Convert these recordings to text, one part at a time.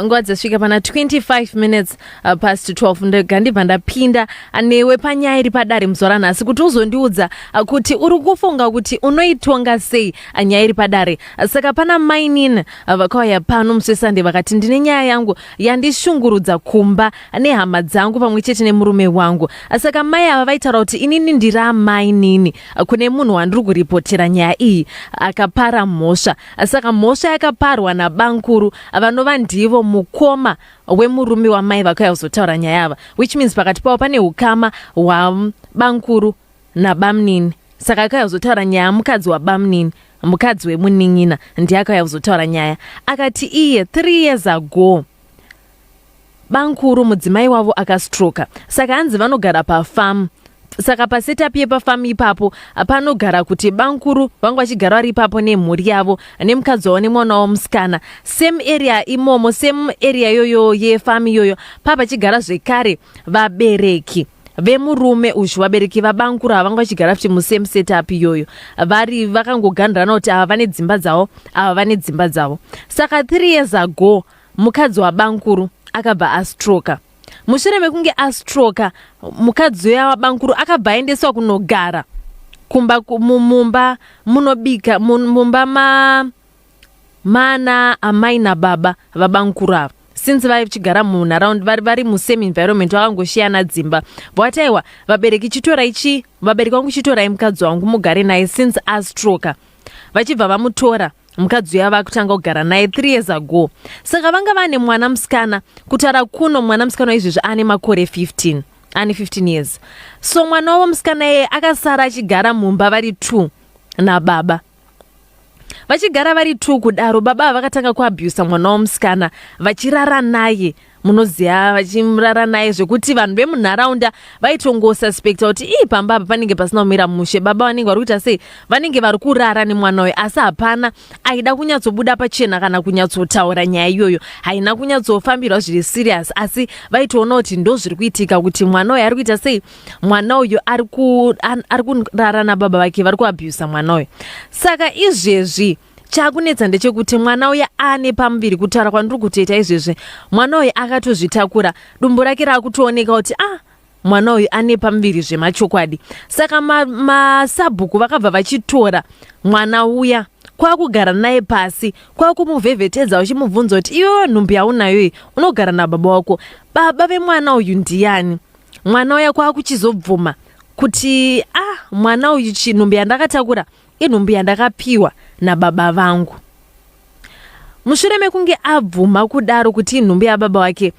nguva dzasvika pana 25 minutes uh, past 12 ndega ndibva ndapinda uh, newe panyaya iri padare muzuva ranhasi kuti uzondiudza uh, kuti uri kufunga kuti unoitonga sei uh, nyaya iri padare uh, saka pana mainin uh, vakauya pano musi wesande vakati ndine nyaya yangu yandishungurudza kumba uh, nehama dzangu pamwe chete nemurume wangu uh, saka mai ava vaitaura kuti inini ndiri amainini kune munhu wandiri kuripotera nyaya iyi akapara mhosva saka mhosva yakaparwa nabankuru vanova ndivo mukoma wemurume wamai vakauya kuzotaura nyaya ava which means pakati pavo pane ukama hwabankuru nabamnini saka akauya kuzotaura nyaya mukadzi wabamnini mukadzi wemunin'ina ndiye akauya kuzotaura nyaya akati iye three years ago Bankuru mudzimai wavo akastroka saka hanzi vanogara pafamu saka pasetup yepafamu ipapo panogara kuti bankuru vanga vachigara vari ipapo nemhuri yavo nemukadzi wavo nemwana wavo musikana same area imomo same area yoyo yefamu iyoyo paa pachigara zvekare vabereki vemurume uyu vabereki vabankuru ava vanga vachigara futi musame setup iyoyo vari vakangoganirana kuti ava vane dzimba dzavo ava vane dzimba dzavo saka three years ago mukadzi wabankuru akabva astroka mushure mekunge astroka mukadzi uya wabankuru akabva aendeswa kunogara kumba mumba munobika mumba ma mana amai nababa vabankuru ava since vaichigara munharaund vari musame environment vakangoshiyana dzimba but aiwa vabereki chitorai chi vabereki vangu chitorai mukadzi wangu mugare naye since astroka vachibva vamutora mukadzi uya vakutanga kugara naye three years ago saka vanga vane mwana musikana kutaura kuno mwana musikana waizvezvi ane makore 15 ane 15 years so mwana wavo musikana yeye akasara achigara mumba vari two nababa vachigara vari two kudaro baba vakatanga kuabusa mwana wamusikana vachirara naye munoziva vachimurara naye zvekuti vanhu vemunharaunda vaitongosuspecta kuti ii pamba apa panenge pasina kumira mushe baba vanenge vari kuita sei vanenge vari kurara nemwana uyo asi hapana aida kunyatsobuda pachena kana kunyatsotaura nyaya iyoyo haina kunyatsofambirwa zviri serious asi vaitoona kuti ndo zviri kuitika kuti mwana uyo ari kuita sei mwana uyo ari kurara nababa vake vari kuabusa mwana uyo saka izvezvi chakunetsa ndechekuti mwana uya ane pamuviri kutaura kwandiri kutoita izvezvi mwana uyu akatozvitakura dumbu rake raakutooneka kuti ah mwana uyu ane pamuviri zvemachokwadi saka masabhuku ma vakabva vachitora mwana uya kwakugara naye pasi kwakumuvhevhetedza uchimubvunza kuti iwewe nhumbi yaunayo iyi unogara nababa wako baba vemwana uyu ndiyani mwana uya kwakuchizobvuma kuti ah mwana uyu chinhumbi yandakatakura Inhumbu yandakapiwa nababa vangu. Mushure mekunge abvuma kudaro kuti inhumbu yababa wake,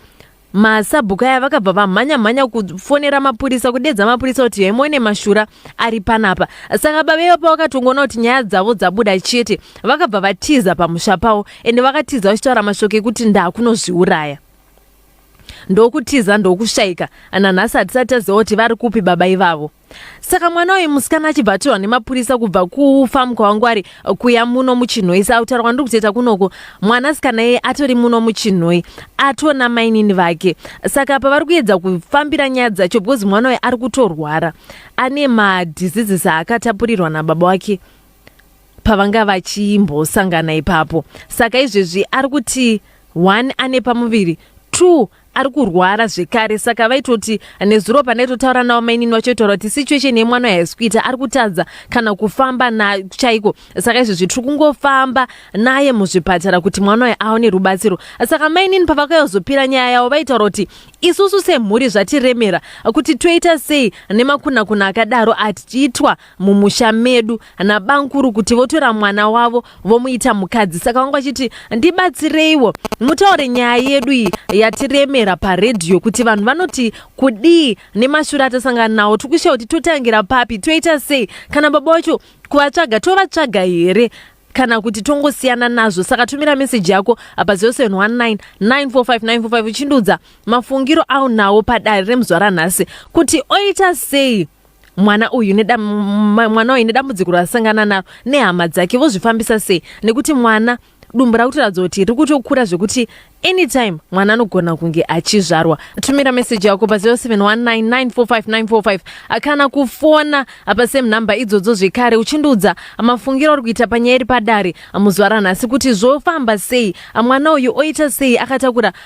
masabhuku aya vakabva vamhanya mhanya kufonera mapurisa kudedza mapurisa kuti yemone mashura ari panapa saka baba ivo pavakatongoona kuti nyaya dzavo dzabuda chete vakabva vatiza pamusha pavo ende vakatiza vachitaura mashoko ekuti ndakunozviuraya ndokutiza ndokushaika nanhasi hatisati taziva kuti vari kupi baba ivavo saka mwana uyu musikana achibva atorwa nemapurisa kubva kufamu kwavangwari kuya muno muchinhoi sautaura kwandiri kutoita kunoko mwana sikana iye atori muno muchinhoi atona mainini vake saka pavari kuedza kufambira nyaya dzacho because mwana uyu ari kutorwara ane madiseases aakatapurirwa nababa wake pavanga vachimbosangana ipapo saka izvezvi ari kuti one ane pamuviri two ari kurwara zvekare saka vaitoti nezuro panaitotaura navo mainini vachoitaura kuti situation yemwana haisi kuita ari kutadza kana kufamba na chaiko saka izvezvi tiri kungofamba naye muzvipatara kuti mwana uyo aone rubatsiro saka mainini pavakayozopira nyaya yavo vaitaura kuti isusu semhuri zvatiremera kuti toita sei nemakunakuna akadaro atiitwa mumusha medu nabamkuru kuti votora mwana wavo vomuita mukadzi saka vanga vachiti ndibatsireiwo mutaure nyaya yedu iyi yatiremera paredhiyo kuti vanhu vanoti kudii nemashura atasangana nawo tiri kushaya kuti totangira papi toita sei kana baba wacho kuvatsvaga tovatsvaga here kana kuti tongosiyana nazvo saka tumira meseji yako apa 0719 945 uchindiudza mafungiro aunawo padare remuzvara nhasi kuti oita sei mwana uyu mwana uyu nedambudziko raasangana naro nehama dzake vozvifambisa sei nekuti mwana dumbu rakutoratidza kuti riri kutokura zvekuti anytime mwana anogona kunge achizvarwa tumira meseji yako pa 0719945945 akana kufona apa same number idzodzo zvekare uchindiudza mafungiro uri kuita panyaya iri padare muzuva ranhasi kuti zvofamba sei mwana uyu oita sei akatakura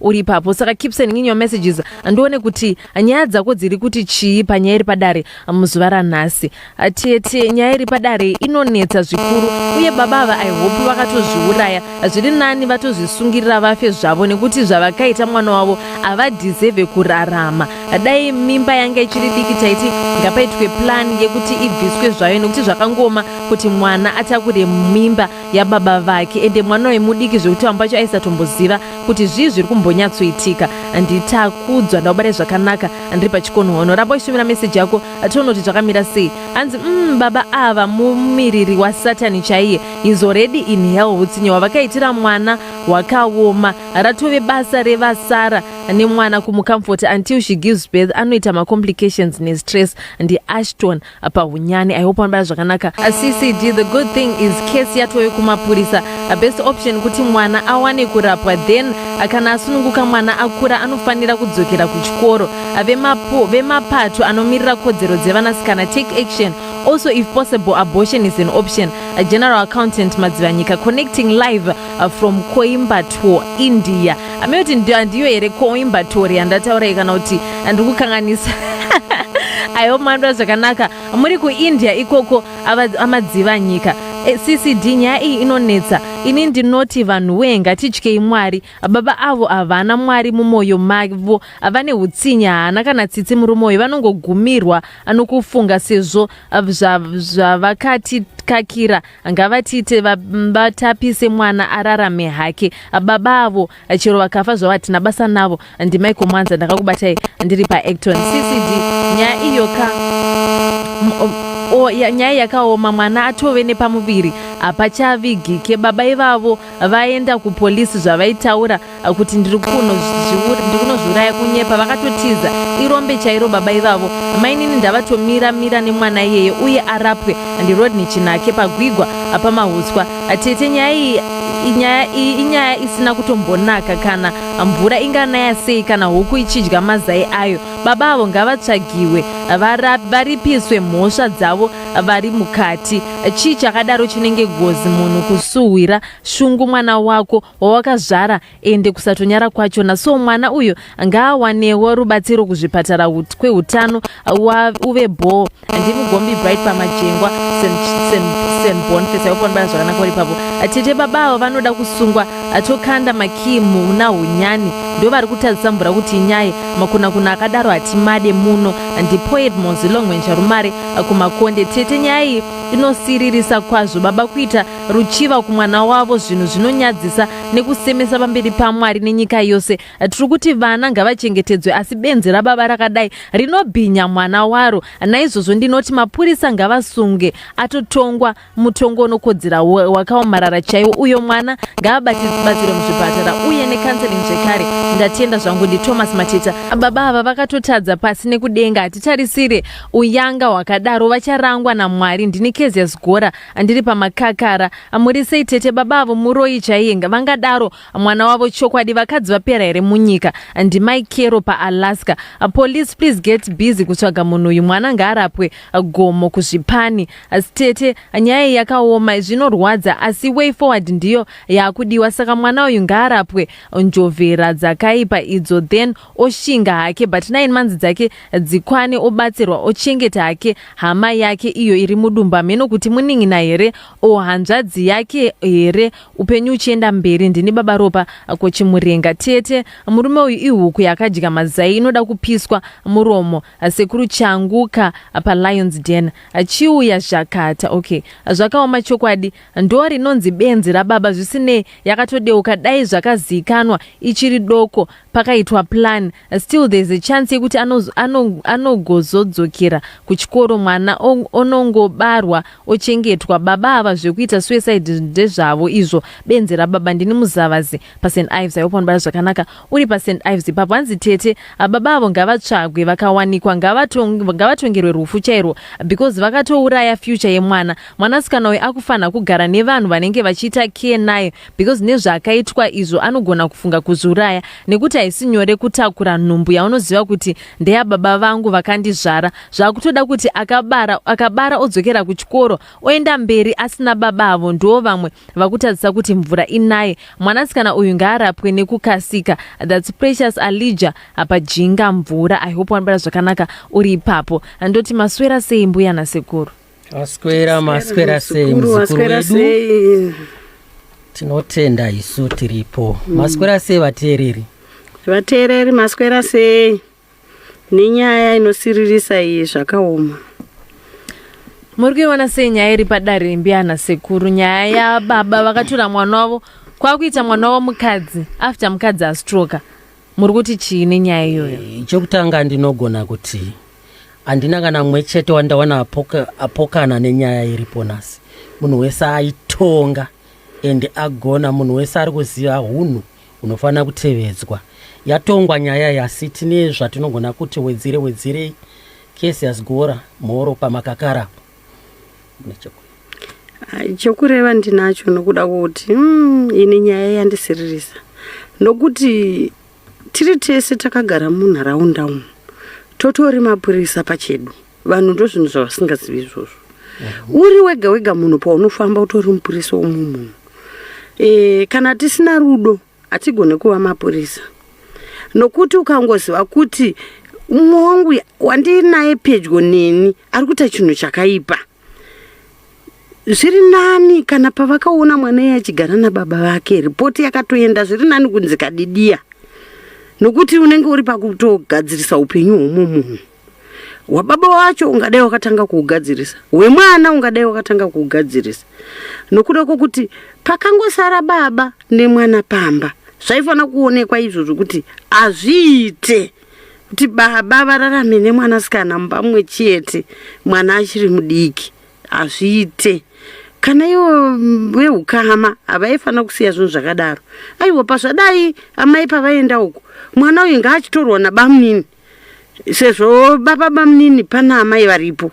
uri ipapo saka keep sending your messages ndione kuti nyaya dzako dziri kuti chii panyaya iri padare muzuva ranhasi tete nyaya iri padare inonetsa zvikuru uye baba ava i hope vakatozviuraya zviri nani vatozvisungirira vafe zvavo nekuti zvavakaita mwana wavo havadhizevhe kurarama dai mimba yanga ichiri diki taiti ngapaitwe plan yekuti ibviswe zvayo nekuti zvakangoma kuti mwana atakure mimba yababa vake ende mwana uyu mudiki zvekuti vambo vacho aisatomboziva kuti zvii zviri kumbonyatsoitika nditakudzwa ndaubare zvakanaka ndiri pachikonhono ramba uchishumira meseji yako tione kuti zvakamira sei hanzi mm, baba ava mumiriri wasatani chaiye is already in hell hutsinye hwavakaitira mwana hwakaoma ratove basa revasara nemwana kumucomfort until she gives birth anoita macomplications nestress ndiashton apa hunyani i hope anobaya zvakanaka ccd the good thing is case yatoyo kumapurisa a best option kuti mwana awane kurapwa then kana asununguka mwana akura anofanira kudzokera kuchikoro vemapo vemapato anomirira kodzero dzevanasikana take action also if possible abortion is an option a general accountant madzivanyika connecting live uh, from coimbatore india ameyoti ndiyo here coimbatore yandataura kana kuti ndiri kukanganisa aiwo mandwa zvakanaka muri kuindia ikoko amadziva nyika eh, ccd nyaya iyi inonetsa ini ndinoti vanhu wee ngatityei mwari baba avo havana mwari mumwoyo mavo vane utsinye haana kana tsitsi muri mwoyo vanongogumirwa nokufunga sezvo zvavakati kakira ngavatiite vatapise mwana ararame hake baba avo chero vakafa zvavo hatina basa navo ndimaiko mwanza ndakakubatai ndiri paacton ccd nyaya iyo ka nyaya yakaoma mwana atove nepamuviri hapachavigike baba ivavo vaenda kupolisi zvavaitaura uh, kuti ndiri kunozviuraya kunyepa vakatotiza irombe chairo baba ivavo mainini ndavatomira mira nemwana iyeye uye arapwe ndirodney chinake pagwigwa uh, pamahuswa uh, tete nyaya iyi inyaya iyi inyaya isina kutombonaka kana mvura inganaya sei kana huku ichidya mazai ayo baba avo ngavatsvagiwe varipiswe mhosva dzavo vari mukati chii chakadaro chinenge gozi munhu kusuhwira shungu mwana wako wawakazvara ende kusatonyara kwachona so mwana uyo ngaawanewo rubatsiro kuzvipatara kweutano uve bhoo ndimugombi bright pamajengwa senbonfesayoponbaa zvakanaka uri pavo tete baba avo vanoda kusungwa atokanda makii muna hunyani ndo vari kutadzisa mvura kuti inyai makunakuna akadaro hatimade muno ndipoet mozilongwenjarumare kumakonde tete nyaya iyi inosiririsa kwazvo baba kuita ruchiva kumwana wavo zvinhu zvinonyadzisa nekusemesa pamberi pamwari nenyika yose tiri kuti vana ngavachengetedzwe asi benzi rababa rakadai rinobhinya mwana waro naizvozvo ndinoti mapurisa ngavasunge atotongwa mutongo unokodzera wakaomarara chaiwo uyo mwana ngaabatsirwe muzvipatara uye nekanseling zvekare ndatenda zvangu ndithomas mateta baba ava vakatotadza pasi nekudenga hatitarisire uyanga hwakadaro vacharangwa namwari ndini kezias gora Andiri pamakakara amurisei tete baba avo muroyi chaiyenga vangadaro mwana wavo chokwadi vakadzi vapera here munyika ndimai kero paalaska police please get busy kutsvaga munhu uyu mwana ngaarapwe gomo kuzvipani stete nyaya yakaoma zvinorwadza asi way forward ndiyo yaakudiwa saka mwana uyu ngaarapwe njovhera dzakaipa idzo then oshinga hake but nine months dzake dzikwane obatsirwa ochengeta hake hama yake iyo iri mudumba mheno kuti munin'ina here o hanzvadzi yake here upenyu uchienda mberi ndini baba ropa kochimurenga tete murume uyu ihuku yakadya mazai inoda kupiswa muromo sekuru changuka palions den chiuya zvakata okay zvakaoma chokwadi ndo rinonzi benzi rababa zvisinei yakatodeuka dai zvakaziikanwa ichiri doko pakaitwa plan still there's a chance yekuti anogozodzokera ano, ano kuchikoro mwana onongobarwa ochengetwa baba ava zvekuita suicide ndezvavo izvo benzi rababa ndini muzavazi past ives aihope vanobara zvakanaka uri past ives ipapo hanzi tete baba avo ngavatsvagwe vakawanikwa ngavatongerwe rufu chairwo because vakatouraya future yemwana mwanasikana uyu akufanira kugara nevanhu vanenge vachiita care naye because nezvaakaitwa izvo anogona kufunga kuzviuraya nekuti haisi nyore kutakura nhumbu yaunoziva kuti ndeyababa vangu vakandizvara zvakutoda kuti akabara akabara odzokera kuchikoro oenda mberi asina baba avo ndiwo vamwe vakutadzisa kuti mvura inaye mwanasikana uyu ngaarapwe nekukasika thats precious alija apajinga mvura i hope wanobara zvakanaka uri ipapo ndoti maswera sei mbuya nasekuru Maswera maswera sei muzukuru wedu? Tinotenda isu tiripo. Mm. Maswera sei vateereri? Vateereri maswera sei? Nenyaya inosiririsa iyi zvakaoma. Muri kuiona sei nyaya iri padare mbiyana sekuru nyaya yababa vakatura mwana wavo kwakuita mwana wavo mukadzi after mukadzi astroka muri kuti chii nenyaya iyoyo? Eh, chokutanga ndinogona kuti handina kana mumwe chete wandaona apoka, apokana nenyaya iripo nhasi munhu wese aitonga and agona munhu wese ari kuziva hunhu hunofanira kutevedzwa yatongwa nyaya yasi tine zvatinogona kuti wedzere wedzerei kesi yasgora mhoro pamakakara chokureva ndinacho nokuda kuti mm, ini nyaya yandisiririsa nokuti Tiri tese takagara munharaunda umu totori mapurisa pachedu vanhu ndozvinhu zvavasingazivi izvozvo uri wega wega munhu paunofamba utori mupurisa womwe munhu e, kana tisina rudo hatigone kuva mapurisa nokuti ukangoziva kuti umwe wangu wandinaye pedyo neni ari kuita chinhu chakaipa zviri nani kana pavakaona mwana iye achigara nababa vake ripoti yakatoenda zviri nani kunzi kadidiya nokuti unenge uri pakutogadzirisa upenyu hwomo munhu hwababa wacho ungadai wakatanga kuugadzirisa hwemwana ungadai wakatanga kuugadzirisa nokuda kwokuti pakangosara baba nemwana pamba zvaifanira kuonekwa izvo zvokuti hazviite kuti baba vararame nemwanasikana mumba mumwe chete mwana achiri mudiki hazviite kana ivo veukama havaifanira kusiya zvinhu zvakadaro aiwa pazvadai amai pavaenda uku mwana uyu ngaachitorwa nabamunini sezvo baba bamunini pana amai varipo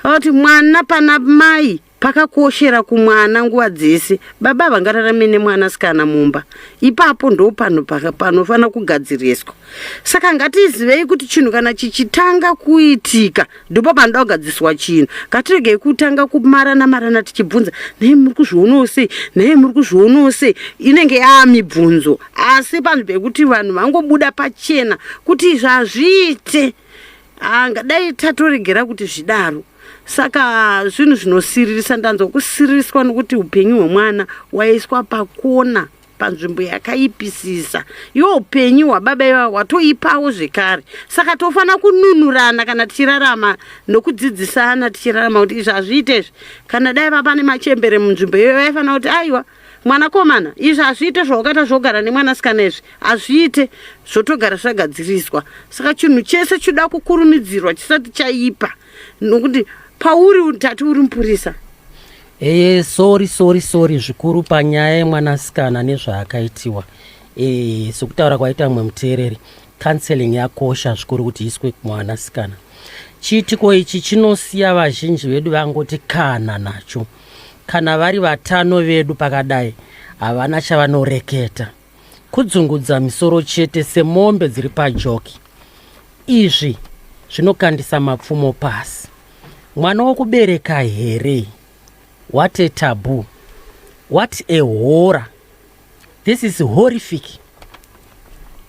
vati mwana pana mai pakakoshera kumwana nguva dzese baba vangararame nemwana sikana mumba ipapo ndo panhu panofanira kugadziriswa saka ngatizivei kuti chinhu kana chichitanga kuitika ndipo panoda kugadziswa chinhu ngatiregei kutanga kumarana marana tichibvunza nei muri kuzvionawo sei nei muri kuzvionawo sei inenge yaa mibvunzo asi panhu pekuti vanhu vangobuda pachena kuti izvi hazviite anga dai tatoregera kuti zvidaro saka zvinhu zvinosiririsa ndanzwa kusiririswa nokuti upenyu hwemwana waiswa pakona panzvimbo yakaipisisa yo upenyu hwababa iva hwatoipawo zvekare saka tofanira kununurana kana tichirarama nokudzidzisana tichirarama kuti izvi hazviite izvi kana dai vapane machembere munzvimbo iyoyo vaifanira kuti aiwa mwanakomana izvi hazviite zvawakaita zvogara nemwanasikana izvi hazviite zvotogara zvagadziriswa saka chinhu chese choda kukurumidzirwa chisati chaipa nokuti pauri utati uri mupurisa ee eh, sori sori sori zvikuru panyaya yemwanasikana nezvaakaitiwa ee eh, sokutaura kwaita mumwe muteereri counseling yakosha zvikuru kuti iswe kumwanasikana chiitiko ichi chinosiya vazhinji vedu vangoti kana nacho Kana vari vatano vedu pakadai havana chavanoreketa. Kudzungudza misoro chete semombe dziri pajoki. Izvi zvinokandisa mapfumo pasi. Mwana wokubereka here? What a taboo. What a horror. This is horrific.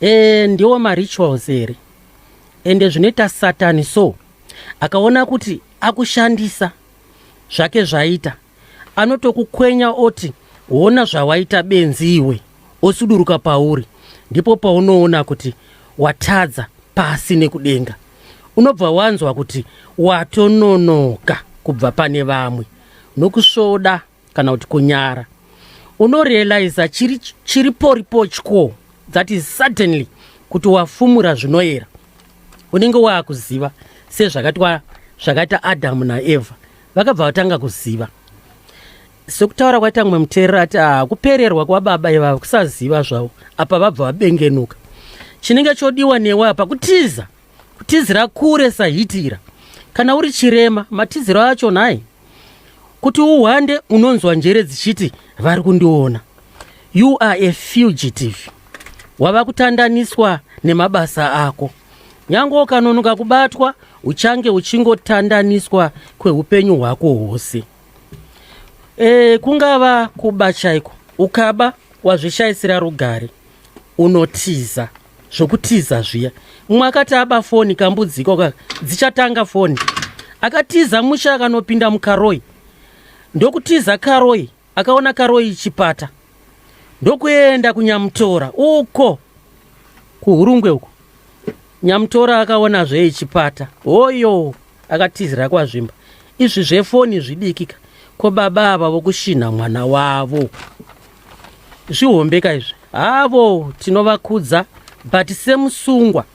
E, ndiwo marituals here? Ende zvinoita satani so akaona kuti akushandisa zvake zvaita anotokukwenya oti hona zvawaita benzi iwe osuduruka pauri ndipo paunoona kuti watadza pasi nekudenga unobva wanzwa kuti watononoka kubva pane vamwe nokusvoda kana kuti kunyara unorealiza chiri, chiri poripo chko that is suddenly kuti wafumura zvinoyera unenge waakuziva sezvakatwa zvakaita adamu naevha vakabva vatanga kuziva sekutaura kwaita mumwe muteerera ati ah, kupererwa kwababa ivava kusaziva zvavo apa vabva vabengenuka chinenge chodiwa newe apa kutiza kutizira kure sahitira kana uri chirema matiziro acho nhai kuti uhwande unonzwa njere dzichiti vari kundiona you are a fugitive wava kutandaniswa nemabasa ako nyange ukanonoka kubatwa uchange uchingotandaniswa kweupenyu hwako hwose e, kungava kuba chaiko ukaba wazvishayisira rugare unotiza zvokutiza zviya umwe akati aba foni kambudziko ka dzichatanga foni akatiza musha akanopinda mukaroi ndokutiza karoi akaona karoi chipata ndokuenda kunyamutora uko kuhurungwe uko nyamutora akaona zvei chipata hoyo akatizira kwazvimba izvi zvefoni zvidikika ko baba ava vokushinha mwana wavo zvihombeka izvi havo tinovakudza but semusungwa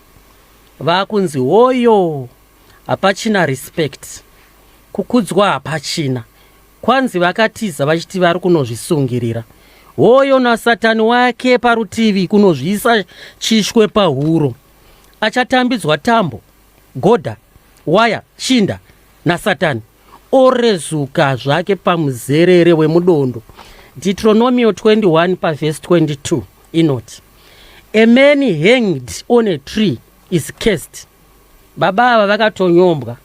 vakunzi hoyo hapachina respect kukudzwa hapachina kwanzi vakatiza vachiti vari kunozvisungirira hoyo nasatani wake parutivi kunozviisa chishwe pahuro achatambidzwa tambo goda waya shinda nasatani orezuka zvake pamuzerere wemudondo deuteronomio 21 pavhesi 22 inoti a man hanged on a tree is cursed baba ava vakatonyombwa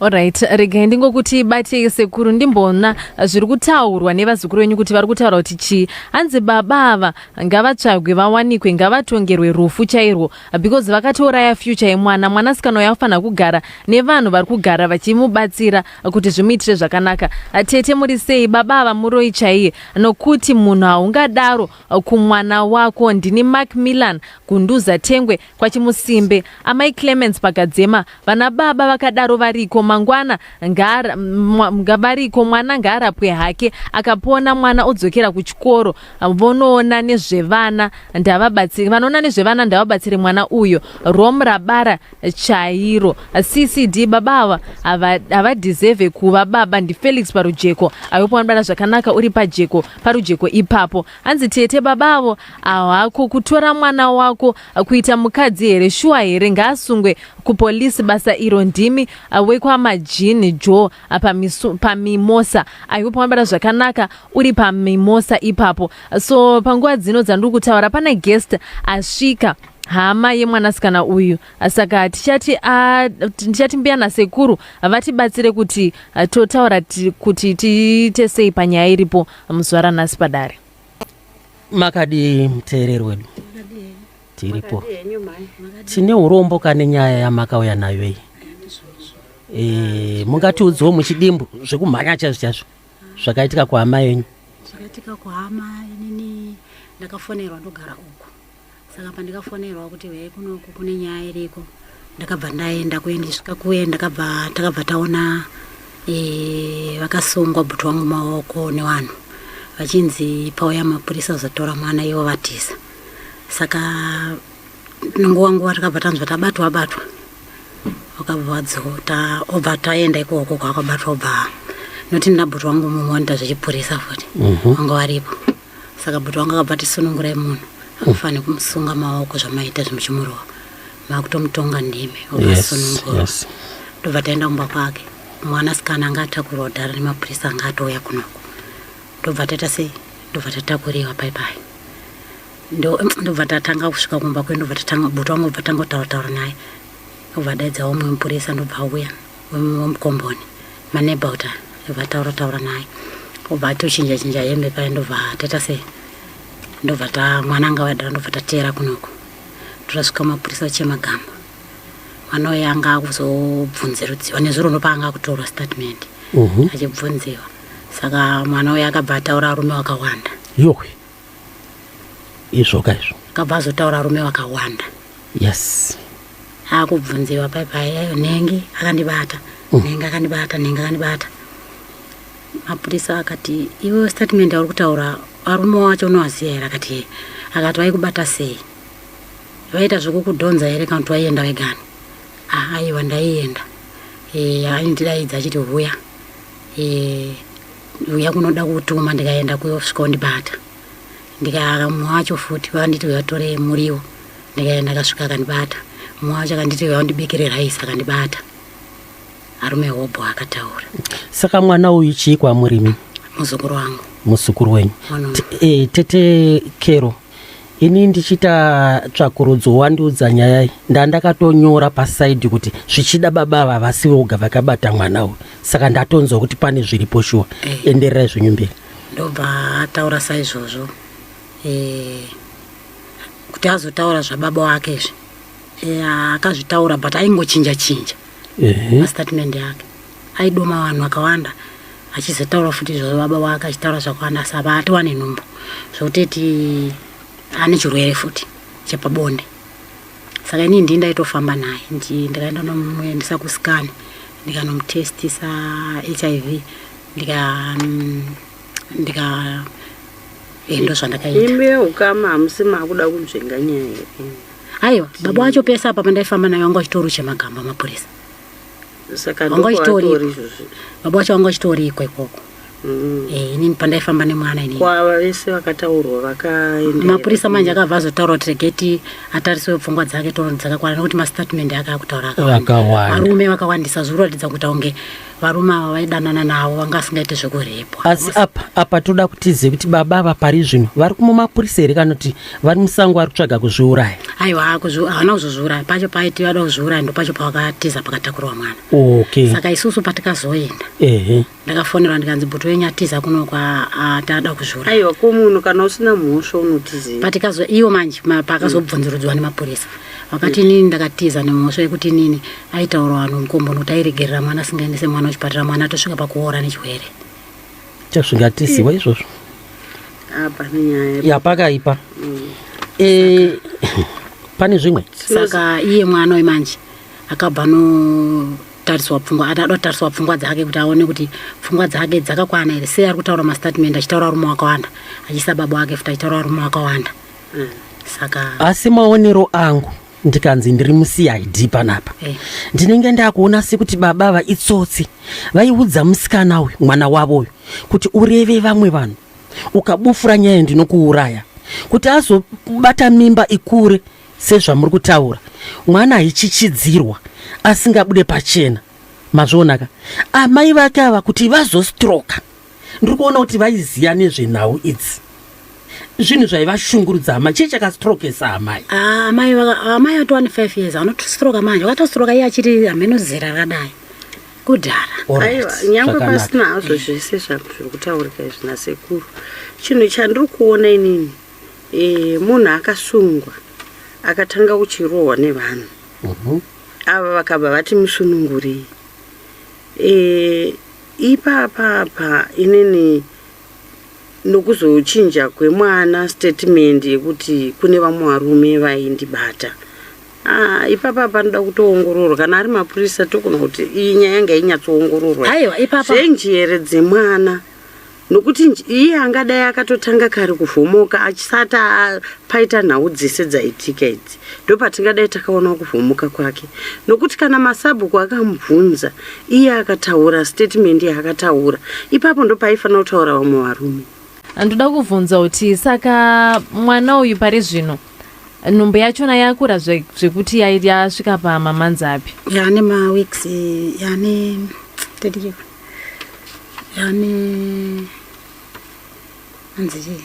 Alright, regai ndingokuti bate sekuru ndimboona zviri kutaurwa nevazukuru venyu kuti vari kutaura kuti chii. Hanzi baba ava ngavatsvagwe vawanikwe ngavatongerwe rufu chairwo because vakatouraya future yemwana. Mwanasikana uyu afanha kugara nevanhu vari kugara vachimubatsira kuti zvimuitire zvakanaka. Tete muri sei baba ava muroi chaiye nokuti munhu haungadaro kumwana wako. Ndini Mark Milan Gunduza Tengwe kwachimusimbe amai clemens pakadzema vana baba vakadaro variko mangwana ngaara, mwa, variko mwana ngaarapwe hake akapona mwana odzokera kuchikoro vonoona nezvevana ndavabatsire vanoona nezvevana ndavabatsire mwana uyo rom rabara chairo ccd baba ava havadhizevhe kuva baba ndifelix parujeko aiupa vanobara zvakanaka uri pajeko parujeko ipapo Hanzi tete baba avo ahako kutora mwana wako kuita mukadzi here shuwa here ngaasungwe kupolisi basa iro ndimi uh, wekwamajini jo uh, pamisu- pamimosa aihope wambara zvakanaka uri pamimosa ipapo so panguva dzino dzandiri kutaura pane guest asvika hama yemwanasikana uyu saka tichati ah, t- ndichati mbuya nasekuru vatibatsire kuti ah, totaura ti- kuti tiite sei panyaya iripo muzvara nhasi padare makadii muteereri wedu tiripo tine urombo kane nyaya yamakauya nayo iyi e, mungatiudziwo muchidimbu zvekumhanya chazvo chazvo zvakaitika kuhama yenyu zvakaitika kuhama inini ndakafonerwa ndogara uku saka pandikafonerwa kuti vei kunoku kune nyaya iriko ndakabva ndaenda kuye ndichisvika kuye ndakabva takabva taona e, vakasungwa bhuti wangu maoko nevanhu vachinzi pauya mapurisa zotora mwana ivo vatiza saka nonguva nguva takabva tanzwa tabatwa batwa wakabva wadzota obva taenda ikoko kwakabatwa obva noti ndinabhuti wangu mumwe wanoita zvechipurisa futi mhm. wanga waripo saka bhuti wangu akabva ati sunungurai munhu akufanhe kumusunga maoko zvamaita zvimuchimurova makutomutonga ndimi ukasunungura yes, yes. ndobva taenda kumba kwake mwana sikana anga atakurwa dhara nemapurisa anga atouya kunoko ndobva taita sei ndobva tatakuriwa paipai ndobva tatanga kusvika kumba kwe ndobva tatanga bhuti wangu bva tanga kutaura taura naye obva daidzawo mumwe mupurisa ndobva auya wemukomboni maneba kuti vataura taura naye obva atochinja chinja hembe paye ndobva taita se ndobva ta mwana anga vadara ndobva tateera kunoku totasvika mapurisa chemagamba mwana uye anga akuzobvunzirudziwa nezuro ndopaanga akutorwa statement mhm. achibvunziwa saka mwana uye akabva ataura arume wakawanda yohwe izvoka izvo akabva azotaura rume wakawanda yes akubvunziwa paipaiyayo nhengi akandibata mm. nhengi akandibata nhengi akandibata mapurisa akati iwe statement yauri kutaura varume wacho unovaziva here akati ye akati vaikubata sei vaita zvekukudhonza here kana kuti waienda vegani ah, aiwa ndaienda e, aindidaidza achiti huya Eh, uya kunoda kutuma ndikaenda kuyokusvika undibata ndikaka mumwe wacho futi vakanditi vatore muriwo ndikaenda akasvika akandibata mumwe wacho akanditi vaundibikire raisi akandibata arume hobho akataura saka mwana uyu chii kwamurimi muzukuru wangu muzukuru wenyu mwana wangu. T- eh, tete kero ini ndichiita tsvakurudzo wandiudza nyaya iyi ndandakatonyora pasaidi kuti zvichida baba ava vasi voga vakabata mwana uyu saka ndatonzwa kuti pane zviripo shuwa eh. endererai zvenyu mberi ndobva ataura saizvozvo eh, kuti azotaura zvababa wake izvi eh, akazvitaura but aingochinja chinja mastatement yake Aidoma vanhu vakawanda achizotaura futi izvozvo baba wake achitaura zvakawanda asi apa ati wane nhumbu zvokuteti ane chirwere futi chepabonde saka inii ndii ndaitofamba naye ndikaenda nomuendesa kusikani ndikanomutestisa h i v ndika mm, ndika endo eh, zvandakaita imbi yeukama hamusi maakuda kunzvenga nyaya here aiwa baba wacho pese apa pandaifamba nayo anga achitoruche magamba mapurisa saka Wanga uchitori- ndokwaatori izvozvi baba wacho vanga vachitoriko ikoko Mm. Eh, inini pandaifamba nemwana inini kwava vese vakataurwa vakaenda mapurisa manje akabva azotaura kuti regei ti atariswe pfungwa dzake tono dzakakwana nekuti mastatement ake akutaura akawanda vakawanda varume vakawandisa zviri kuratidza kuita kunge varume ava vaidanana navo vanga vasingaite zvekurepwa asi apa apa toda kutizive kuti baba ava pari zvino vari kumumapurisa here kana kuti vari musango ari kutsvaga kuzviuraya aiwa haana kuzozviuraya pacho paiti vada kuzviuraya ndo pacho pavakatiza pakatakurwa mwana okay. saka isusu patikazoenda ehe ndakafonerwa ndikanzi buti wenyu atiza kuno kwatada kuzviuraya aiwa ko munhu kana usina mhosva unotizi patikazo iwo manje pakazobvunzurudzwa nemapurisa vakati inini ndakatiza nemhosva yekuti inini aitaura vanhu mukombo nokuti airegerera mwana asingaendese mwana kuchipatara mwana atosvika pakuora nechirwere Tazvingatiziwa izvozvo. Apa nyaya. Ya pakaipa. Mm. Eh pane zvimwe. Saka iye mwana wemanje akabva no tariswa pfungwa atado tariswa pfungwa dzake kuti aone kuti pfungwa dzake dzakakwana here sei ari kutaura mastatement achitaura varume wakawanda achisa baba wake futi achitaura varume wakawanda mm. saka asi maonero angu ndikanzi ndiri mucid panapa eh. ndinenge ndakuona sekuti baba ava itsotsi vaiudza musikana uyu mwana wavo uyu kuti ureve vamwe vanhu ukabufura nyaya ndinokuuraya kuti azobata mimba ikure sezvamuri kutaura mwana aichichidzirwa asingabude pachena mazvionaka amai vake ava kuti vazostroka ndiri kuona kuti vaiziva nezvenhau idzi zvinhu zvaivashungurudza amai chii chakastrokesa amai ah, amai amai ati one five years anotistroka manje wakatostroka iye achiti hameno zera rakadai kudhara aiwa nyange pasina hazvo zvese zvazviri kutaurika izvi nasekuru chinhu chandiri kuona inini eh, munhu akasungwa akatanga kuchirohwa nevanhu mhm. ava vakabva vati musunungurei eh, Ipapa apa inini ndokuzochinja kwemwana statement yekuti kune vamwe varume vaindibata. Ah, ipapa apa anoda kutoongororwa kana ari mapurisa tokona kuti iyi nyaya yanga inyatsoongororwa. Aiwa ipapa. Zvenjere dzemwana. nokuti iye angadai akatotanga kare kuvhomoka achisati paita nhau dzese dzaitika idzi ndopatingadai takaona kuvhomoka kwake nokuti kana masabhuku akamubvunza iye akataura statement yaakataura ipapo ndopaifanira kutaura vamwe varume ndoda kuvhunza kuti saka mwana uyu pari zvino nhumbu yachona yakura zvekuti yasvika pamamanzi api yane maweeks yane yani anzi chii